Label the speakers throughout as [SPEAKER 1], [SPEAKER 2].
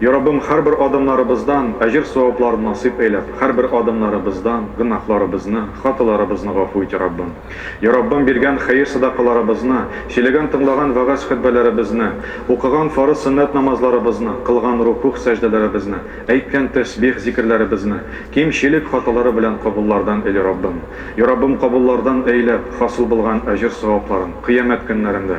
[SPEAKER 1] Я Раббым, һәрбер адымнарыбыздан әҗер-саваплар насыйп әйләп, һәрбер адымнарыбыздан гөнаһларыбызны, хаталарыбызны гафу ит, Раббым. Я Раббым, биргән хәер-садакаларыбызны, сөйләгән-тыңлаган вәгазь-хөтбәләребезне, укыган фарыз-сөннәт намазларыбызны, кылган рукугъ-сәҗдәләребезне, әйткән тәсбих-зикерләребезне кимчелек хаталары белән кабуллардан эйли, Раббым. Я Раббым, кабуллардан әйләп, хасыл булган әҗер-савапларын Кыямәт көннәрендә,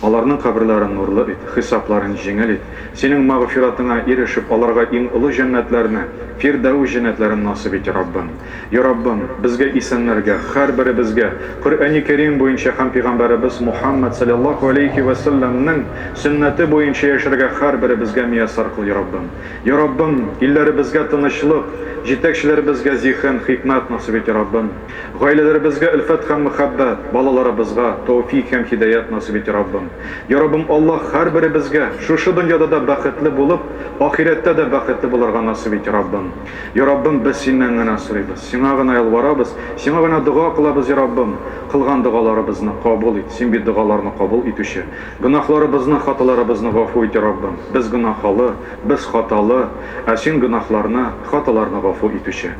[SPEAKER 1] Аларның каберләрен нурлы ит, хисапларын җиңел ит. Синең мәгъфиратыңа ирешеп, аларга иң олы җәннәтләрне, Фирдәүс җәннәтләрен насыйп ит, Раббым. Я Раббым, безгә исәннәргә, һәрберебезгә, Коръәни Кәрим буенча һәм пигамбәребез Мухаммәд салләллаһу галәйһи вә сәлләмнең сөннәте буенча яшәргә һәрберебезгә мияссәр кыл, Я Раббым. Я Раббым, илләребезгә тынычлык, җитәкчеләребезгә зиһен, хикмәт насыйп ит, Я Раббым. Гаиләләребезгә өлфәт һәм мөхәббәт, балаларыбызга тәүфик һәм һидаят насыйп ите Раббым. Я Раббым Аллаһ һәрберебезгә шушы дөньяда да бәхетле булып, ахирәттә дә бәхетле булырга насыйп ите Раббым. Я Раббым без синнән генә сорыйбыз, сиңа гына ялварабыз, сиңа гына дога кылабыз Я Раббым, кылган догаларыбызны кабул ит, син бит догаларны кабул итүче. Гөнаһларыбызны, хаталарыбызны гафу ит Я Раббым, без гөнаһалы, без хаталы, ә син гөнаһларны, хаталарны гафу итүче.